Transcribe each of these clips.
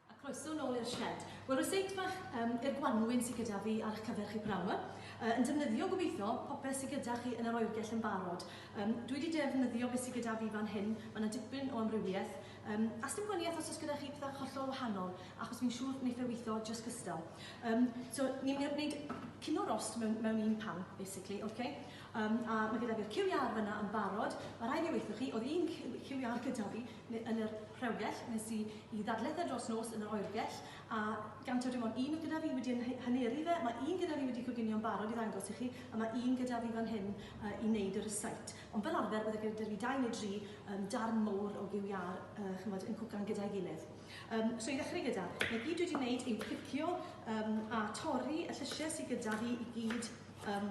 A croeso nôl i'r shed. Wel, ryseit bach um, i'r gwanwyn sydd gyda fi ar eich cyfer chi pnawn yma. Uh, yn defnyddio gobeithio popeth sydd gyda chi yn yr oergell yn barod. Um, dwi wedi defnyddio beth sydd gyda fi fan hyn, mae yna dipyn o amrywiaeth. Um, a sdim gwaniaeth os oes gyda chi pethau hollol wahanol, achos fi'n siŵr wneud fe weithio just gystal. Um, so, ni'n mynd i wneud cyn o'r rost mewn, mewn un pan, basically, okay? Yym, a mae gyda fi'r QR fyna yn barod. Mae rhaid fi weithio chi, oedd un QR gyda fi yn yr rhewgell, nes i i ddadletha dros nos yn yr oergell, a gan taw dim ond un oedd gyda fi wedi yn haneru fe, mae un gyda fi wedi coginio'n barod i ddangos i chi, a mae un gyda fi fan hyn uh, i wneud y rysait. Ond fel arfer, bydde gyda fi dau neu dri um, darn mowr o QR uh, chymod, yn cwcan gyda'i gilydd. Um, so i ddechrau gyda, mae gyd wedi wneud yw clicio um, a torri y llysiau sydd gyda fi i gyd Um,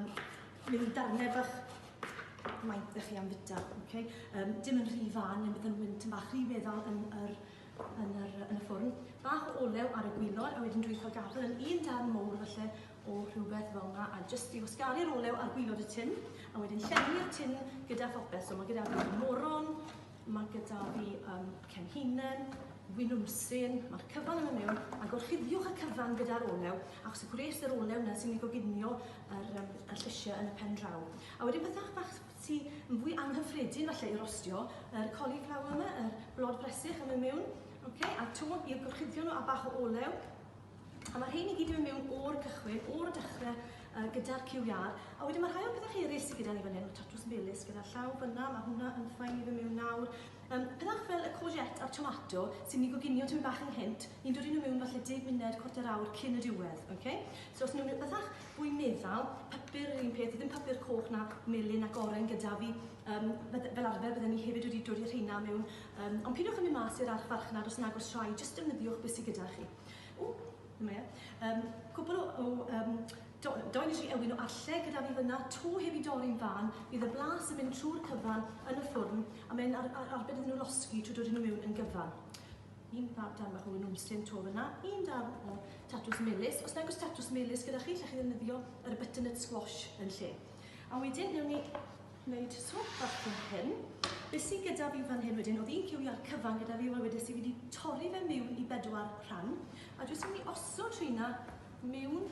bydd yn darnau bach maen ddech chi am fita, okay? um, dim yn rhy fan, neu bydd yn wynt yn bach rhy weddol yn, yr, yn, yr, yn y ffwrn. Bach o olew ar y gwylod, a wedyn dwi'n cael gadael yn un darn mowr felly o rhywbeth fel yna, a jyst i wasgaru'r olew ar gwylod y tin, a wedyn llenwi'r tin gyda phopeth, so mae gyda fi moron, Mae gyda fi um, cenhinen, winwnsyn, mae'r cyfan yna mewn, a gorchuddiwch y cyfan gyda'r olew, achos y gwres yr olew yna sy'n ei goginio yr, um, y llysiau yn y pen draw. A wedyn pethau bach sy yn fwy anghyffredin falle i rostio, yr cauliflower yma, yr blod bresych yn mynd mewn, okay, a to i'r gorchuddion nhw a bach o olew, A mae rhein i gyd yn mynd mewn o'r cychwyn, o'r dechrau uh, gyda'r QR. A wedyn mae rhai o'r pethau eraill sydd gyda ni fan hyn, tatws melys gyda llaw fyna, mae hwnna yn ffain i fy mewn nawr. Um, pethau fel y courgette a'r tomato sy'n ni goginio ti'n bach yn hint, ni'n dod i nhw mewn falle 10 munud, cwarter awr cyn y diwedd. Okay? So os nhw'n bethau fwy meddal, papur yr un peth, ddim papur coch na melyn ac oren gyda fi, um, fel arfer byddwn ni hefyd wedi dod i'r rheina mewn Yym, ond peidiwch â mynd mas i'r archfarchnad os nag oes rhaid, jyst defnyddiwch beth sydd gyda chi. O, dyma e. Um, cwpl o, o um, do, do nes i ewin o arlle gyda fi fyna, to heb i dorri'n fan, bydd y blas yn mynd trwy'r cyfan yn y ffwrn, a mae'n ar, ar, arbed iddyn nhw losgi trwy dod nhw mewn yn gyfan. Un fab dan bach o wynwmsyn to fyna, un dan o tatws melus. Os nag oes tatws melus gyda chi, lle chi ddefnyddio yr butternut squash yn lle. A wedyn, newn ni wneud swop bach fel hyn. Be sy gyda fi fan hyn wedyn, oedd un ciwiau'r cyfan gyda fi, wel wedes i fi wedi torri fe miwn i bedwar rhan, a jyst yn mynd i osod rheina miwn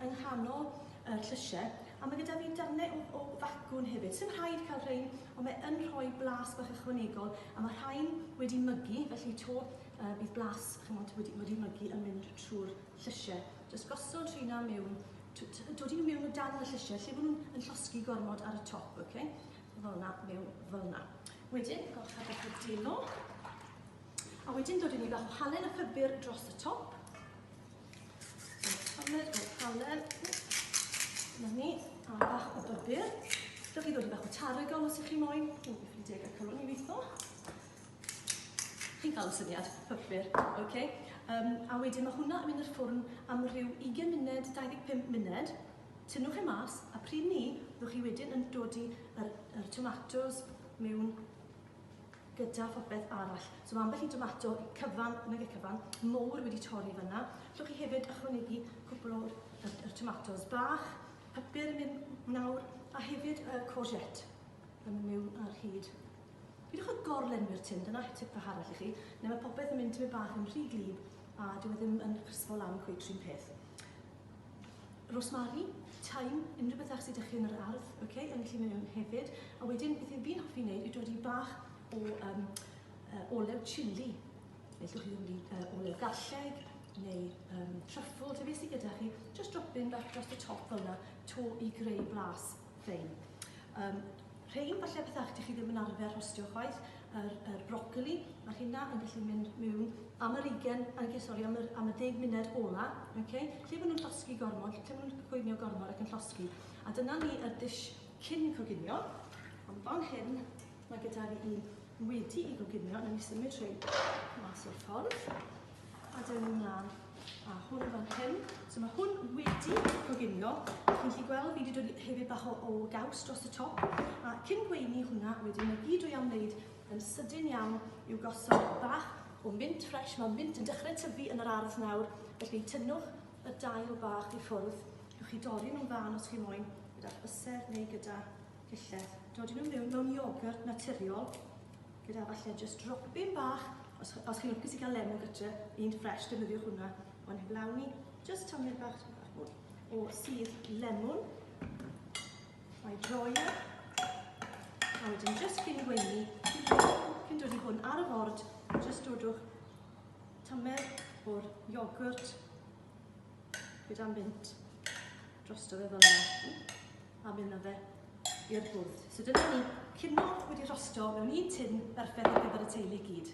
yng nghanol y llysiau, a mae gyda fi darnau o, o facwn hefyd. Sdim rhaid cael rhain, ond mae yn rhoi blas bach ychwanegol, a mae rhain wedi mygu, felly to uh, bydd blas chymod, wedi, wedi mygu yn mynd trwy'r llysiau. Jyst gosod rheina miwn Dodi nhw mewn o dan y llysiau, lle bod nhw'n yn llosgi gormod ar y top, oce? Okay? Fel na, mewn fel na. Wedyn, gall cael beth o delo. A wedyn dod i ni bach o halen a ffibr dros y top. Halen, o halen. Na ni, a bach o bybr. Dewch i ddod i bach o tarigol os ych chi moyn. Dwi'n ffrindiau gael cylwn i weithio. Chi'n cael y syniad, hyfryd, ok. Um, a wedyn mae hwnna yn mynd i'r ffwrn am rhyw 20 munud, 25 munud. Tynnwch e mas, a pryd ni, byddwch chi wedyn yn dod i yr, yr tomatoes mewn gyda phopeth arall. So mae ambell i tomato cyfan, nag e cyfan, mowr wedi torri fyna. Llwch chi hefyd ychwanegu cwpl o'r yr, yr tomatoes bach, papur yn mynd nawr, a hefyd y courgette yn mynd mewn ar hyd. Peidiwch â gor-lenwi'r tun, dyna tip fach arall i chi, neu mae popeth yn mynd tipyn bach yn rhy gwlyb a dyw e ddim yn crispo lan cweit 'r un peth. Rosemary, thyme, unrhyw beth fach sy 'da chi yn yr ardd, ok, yn gallu mynd mewn hefyd. A wedyn, beth fi fi'n hoffi wneud yw dodi bach o um, uh, olew chili. Neu llwch chi dodi uh, olew garlleg, neu um, truffle, te beth sydd gyda chi. Just drop in bach dros y top fel yna, to i greu blas. Fine. Um, rhein falle pethau chi ddim yn arfer rhostio chwaith, yr, yr brocoli, mae hynna yn gallu mynd mewn am yr 20, okay, sorry, am, yr, am y 10 munud ola, okay? lle maen nhw'n llosgi gormod, lle maen nhw'n coginio gormod ac yn llosgi. A dyna ni y dish cyn coginio, ond fan hyn, Mae gyda fi un wedi i goginio, na ni symud trwy mas o'r ffordd. A dyn ni'n mlaen a hwn fan hyn. So mae hwn wedi goginio. Chi'n gallu gweld fi wedi dod hefyd bach o, o gaws dros y top. A cyn gweini hwnna, wedyn mae gyd o'i am wneud yn sydyn iawn i'w gosod bach o mint ffres. Mae mint yn dechrau tyfu yn yr ardd nawr, felly tynnwch y dail bach i ffwrdd. Ywch chi dorri nhw'n dda os chi moyn, gyda'r byser neu gyda Pellach, dodi nhw mewn mewn iogurt naturiol, gyda falle just dropyn bach, os, os chi'n lwcus i gael lemon gytre, un ffres, defnyddiwch hwnna, ond heb lawn ni, just tamled bach, bach mwy, o sydd lemon, mae droi e, a wedyn just cyn gweini, cyn dod i hwn ar y ford, just dodwch tamled o'r iogurt gyda mint drosto fe fel yna. a mynd â fe i'r bwrdd. So dyna ni, cino wedi rhostio mewn un tin berffaith ar gyfer y teulu i gyd.